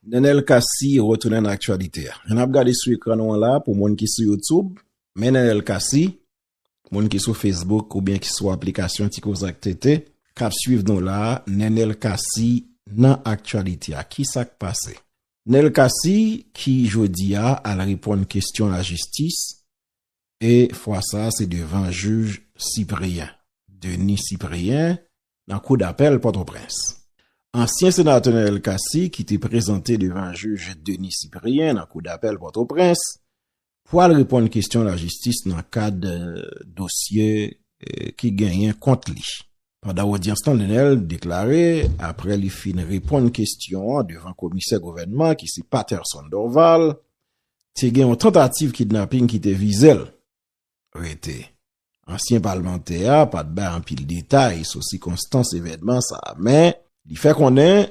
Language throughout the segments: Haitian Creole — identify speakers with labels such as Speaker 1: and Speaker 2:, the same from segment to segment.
Speaker 1: Nenel Cassy retounen nan aktyalite a. Jan nap gade sou ekran nou an la, pou moun ki sou YouTube, men Nenel Cassy, moun ki sou Facebook oubyen ki sou aplikasyon Ti Koze ak TT, kap swiv nou la, Nenel Cassy nan aktyalite a. Ki sak pase? Nenel Cassy ki jodi a al reponn kestyon lajistis E fwa sa a se devan jij Cyprien Denis Cyprien nan kou dapèl Pòtoprens. Ansyen senatè Noël Cassy ki te prezante devan jij Denis Cyprien nan kou dapèl Pòtoprens pwal reponn kestyon lajistis nan kad dosye ki genyen kont li. Pandan odyans lan Nenel deklare apre li fin reponn kestyon devan komisè gouvènman ki se Patterson Dorval, te gen yon tantativ kidnaping ki te vize l. Rete. Ansyen palmantè a pa t bay anpil detay sou sikonstans evènman sa a men li fè konnen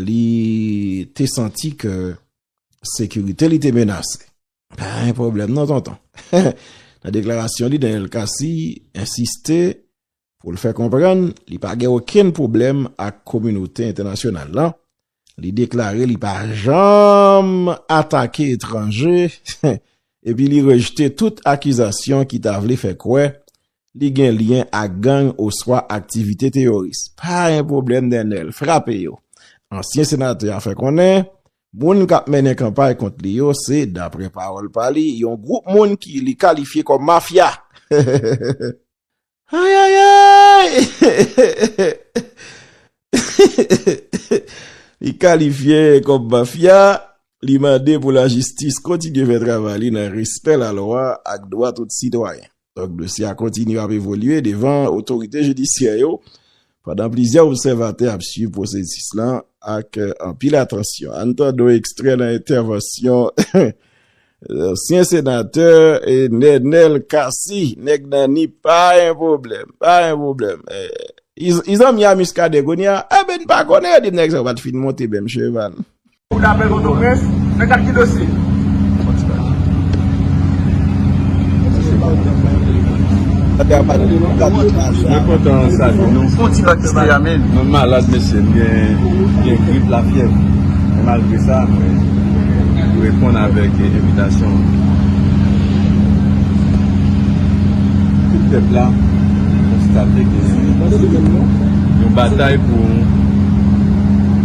Speaker 1: li te santi ke sekirite li te menase. Pa gen pwoblèm non tonton. Nan deklarasyon li, Daniel Cassy ensiste pou l fè konprann li pa gen okenn pwoblèm ak kominote entènasyonal la, li deklare li pa janm atake etranje epi li rejte tout akizasyon ki ta vle fè kwè li gen lyen ak gang oswa aktivite teyoris. Pa gen pwoblèm Nenel, frape yo! Ansyen senatè a fè konnen moun k ap mennen kanpay kont li yo se, daprè pawòl pa li, yon gwoup moun ki li kalifye kòm mafya. Ayayayy! Li kalifye kòm mafya, li mande pou lajistis kontinye fè travay li nan respè lalwa ak dwa tout sitwayen. Dosye a kontinye ap evolye devan otorite jidisyè yo Pandan plizyè obsèvatè ap swiv pwosesis lan ak anpil atansyon, ann tande yon ekstrè nan entèvansyon ansyen senatè Nenel Cassy, nèg nan Nip, pa yon pwoblèm, pa yon pwoblèm. Li zanmi a Muscadin kounye a? Enben, n pa konnen, yo di m nèg sa yo pa t fin monte menm cheval.
Speaker 2: Kou
Speaker 3: dapèl Pòtoprens, nan kad ki dosye? Mwen kontan salye nou. Mwen malad mesye, m gen grip la fyèv. Men malgre sa, mwen reponn avèk evitasyon. Tout pèp la konstate ke yon batay pou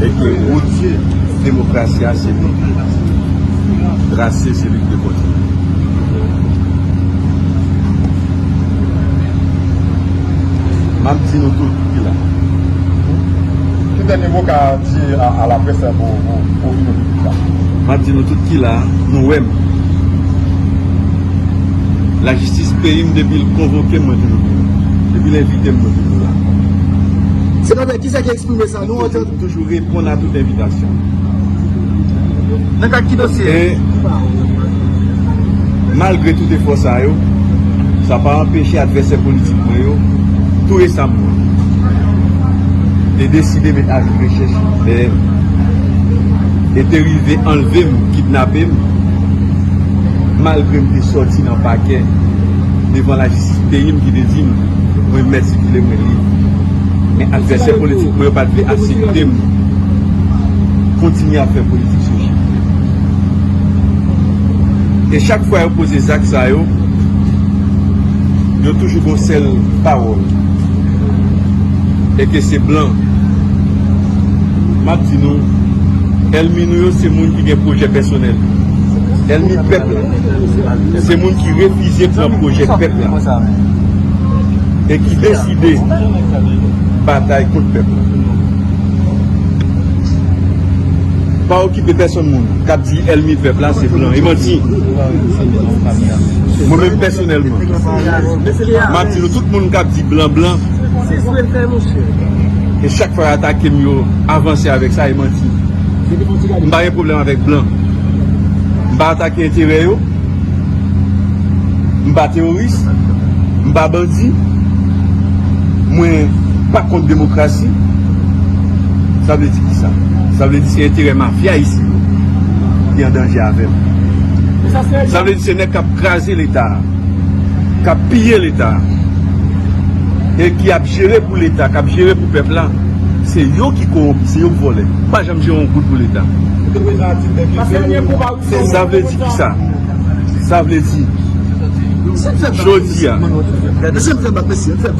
Speaker 3: e ke wotye demokrasi a se nou ki trase, trase se li ki dwe kontinye. M ap di nou tout ki la.
Speaker 2: Ki dènye mo w ka di a laprès la pou w vini pi pita? M ap di nou tout ki
Speaker 3: la, nou wè m. Lajistis peyi m depi l konvoke m mwen toujou vini. Depi l envite m mwen toujou la.
Speaker 4: Kisa ki eksprime sa? Nou antann. M toujou reponn a tout
Speaker 3: envitasyon. Nan
Speaker 4: kad ki dosye? E
Speaker 3: malgre tout efò sa yo, sa pa anpeche advèsè politik mwen yo tou resamman te deside met avi rechèch dèyè m e te rive anlve m, kidnape m, malgre m te sòti nan pakè devan lajistis peyi m ki te di m. Mwen met sikile mwen li. Men advèsè politik mwen yo pat vle asepte m kontinye ap fè politik sou chif li. E chak fwa yo poze zak sa yo, yo toujou gon sèl pawòl. E ke se blan. Map di nou, èlmi nou yo se moun ki gen pwojè pèsonèl. Èlmi pèp la, se moun ki refize pran pwojè pèp la. e ki deside batay kont pèp la pa okipe pèsòn moun kap di èlmi pèp la se blan e manti mwen menm pèsonèlman map di nou tout moun kap di blan blan e chak fwa yo atake m yo avanse avèk sa e manti m pa gen pwoblèm avèk blan m pa atake enterè yo M pa teworis, m pa bandi, mwen pa kont demokrasi, sa vle di ki sa? Sa vle di se enterè mafya isi yo ki an danje avè m. Sa vle di se nèg k ap kraze leta a, k ap piye leta a, e ki ap jere pou leta, k ap jere pou pèp la, se yo ki kowonpi, se yo k vòlè. M pa janm jere yon goud pou leta. Sa vle di kisa? Sa vle di Jodi a Nou deside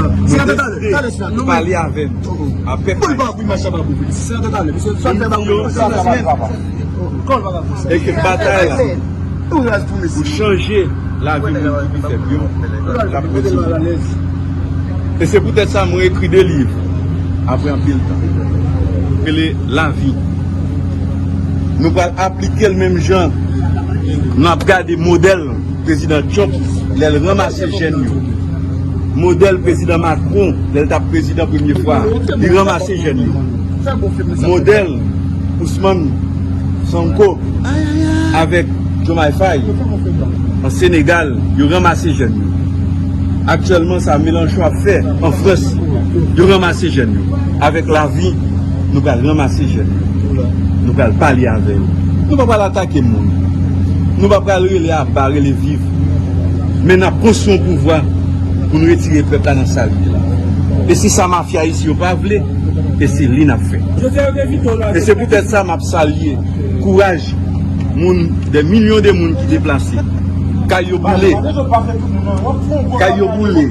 Speaker 3: Nou pale avèm Apre Pale Eke batay la Pou chanje La vi moun ki pi fèb yo Lap kontinye E se poutèt sa mwen ekri 2 liv Apre anpil tan Rele la vi Nou pral aplike l menm jan nou ap gade modèl prezidan Trump lè l ranmase jèn yo. Modèl prezidan Macron lè l t ap prezidan premye fwa a. Li ranmase jèn yo. Modèl Ousman Sonko avèk Diomaye Faye an Senegal yo ranmase jèn yo. Aktyèlman sa Mélenchon ap fè an Frans yo ranmase jèn yo avèk lavi. Nou pral ranmase jèn yo. Nou pral pale avè yo. Nou pa pral atake moun. Nou pa pral rele aba, rele viv. Men n ap konstwi yon pouvwa pou n retire pèp la nan sa l ye la. E se sa mafya isi yo pa vle, e se li n ap fè. E se poutèt sa m ap salye kouraj moun, dè milyon de moun ki deplase. Kay yo boule. Kay yo boule.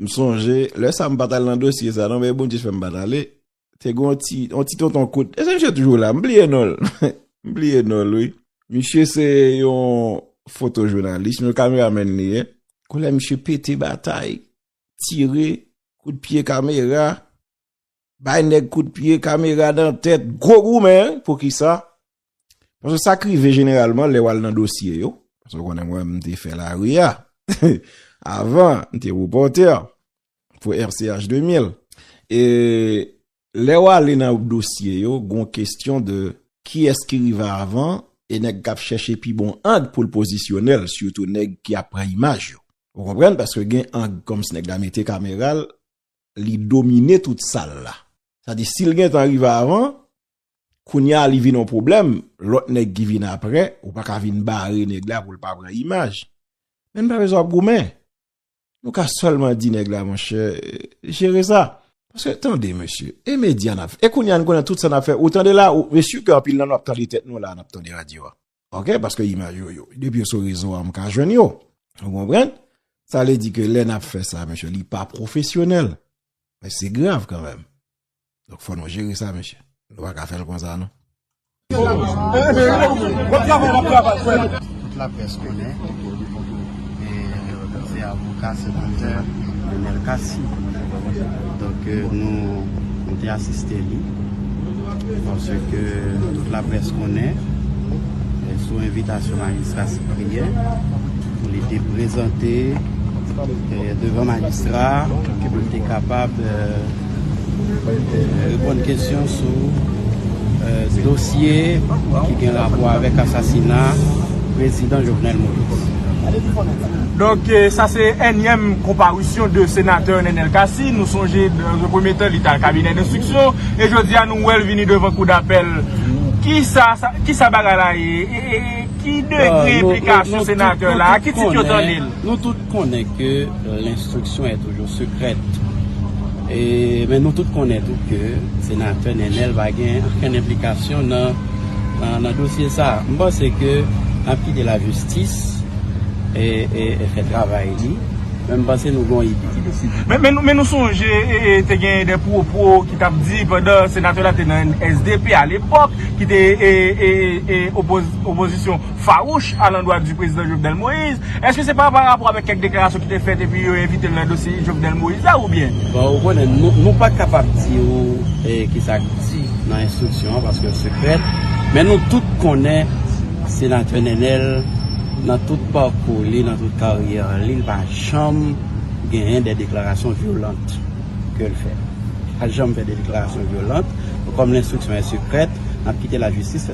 Speaker 1: M sonje, lè sa m pa t al nan dosye sa non men Bondye fè m pa t ale, te gen yon ti tonton kout, èske misye toujou la? M bliye non l, m bliye non l wi. Misye se yon fotojounalis, yon kameramèn li ye. Koulè misye pete batay, tire, kout pye kamera. Bay nèg kout pye, kamera dan tèt, gwo goumen, poukisa? Paske sa k rive jeneralman lè w al nan dosye yo, paske w konnen mwen m te fè lari a, avan m te repòtè pou RCH 2000, e lè w ale nan dosye yo, gon kestyon de kiyès ki rive avan, e nèg k ap chèche pi bon ang pou l pozisyone l, sitou nèg ki ap pran imaj yo. Ou konprann? Paske gen ang kòmsi nèg la mete kamera l, li domine tout sal la. Sa di sil gentan rive avan, kounya li vin yon pwoblèm, lòt nèg ki vin aprè, ou pa ka vin bare nèg la poul pa pran imaj. Men nou pa bezwen ap goumen. Nou ka sèlman di nèg la monchè, jere sa. Paske tande mesye, e medya nap fè, e kounya nou konnen tout sa nap fè, ou tande la, mesye ke anpil nan nou ap tande tèt nou la nap tande radyo a. Ok, paske imaj yo yo. Depi yo sou rezo a, m ka jwenn yo. Ou konpren? Sa vle di ke lè n ap fè sa, mesye, li pa pwofesyonèl. Men se grav kanmèm. Donk fò nou jere sa, mesye. Nou pa ka fè l konsa, non.
Speaker 4: Tout laprès konnen. Se avoka senatè Nenel Cassy. Donk nou te asiste li. Panse ke tout la près konnen sou envitasyon majistra Cyprien pou li te prezante devan majistra pou li te kapab Reponn kesyon sou dosye ki gen rapò avèk asasina Prezidan Jovenel Moïse.
Speaker 5: Donk sa se ènyèm konparisyon de senatè Nenel Cassy. Nou sonje nan yon premye tan li te al kabinè denstriksyon e jodi a nou wè l vini devan kou dapèl. Kisa bagay la ye? Ki degre enplikasyon senatè la? Ki tit yo tande l? Nou tout konnen
Speaker 4: ke lenstriksyon. Yon secret. E men nou tout konnen tou ke Senatè Nenel pa gen ankenn enplikasyon nan nan dosye sa. M panse ke nap kite la jistis e fè travay li. Men m panse nou gen yon ide ki piti. Men nou
Speaker 5: sonje te gen de pwopo ki tap di pandan Senatè la te nan SDP a lepok ki te opozisyon. fawouch a landwa di Prezidan Jovenel Moïse. Eske se pa pa rapò avèk kèk deklarasyon ki te fèt epi yo envite l nan dosye Jovenel Moïse la oubyen? Bon, ou konnen,
Speaker 4: nou pa kapab di ou ki sa k di nan enstriksyon an paske l sekrè. Men nou tout konnen Senatè Nenel nan tout pakou li, nan tout karyè li, li pa janm genyen de deklarasyon vyolant ke l fè. Li pa janm fè de deklarasyon vyolant. Kòm l enstriksyon an sekrè, n ap kite lajistis fè.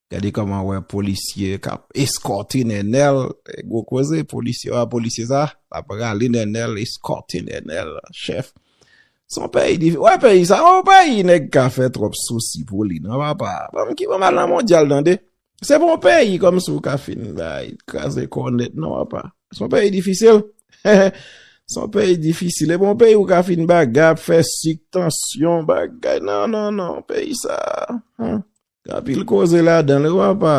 Speaker 1: Gade koman wè polisye kap eskòte Nenel, gwo koze polisye wè polisye sa, lap rale Nenel eskòte Nenel chèf. Son peyi di, wè peyi sa, wè peyi nèg ka fè tròp sousi pou li nan papa, banm ki banm al nan mondyal tande. Se pou yon peyi kòm si ou ka fin bay, kraze kò w nèt nan papa. Son peyi difisil, son peyi difisil, e pou yon peyi ou ka fin bagay, ap fè sik, tansyon, bagay, nan nan nan, peyi sa. Gen anpil koze ladan l wi papa.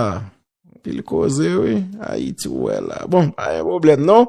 Speaker 1: Anpil koze wi. Ayiti ou wè la. Bon, pa gen pwoblèm non.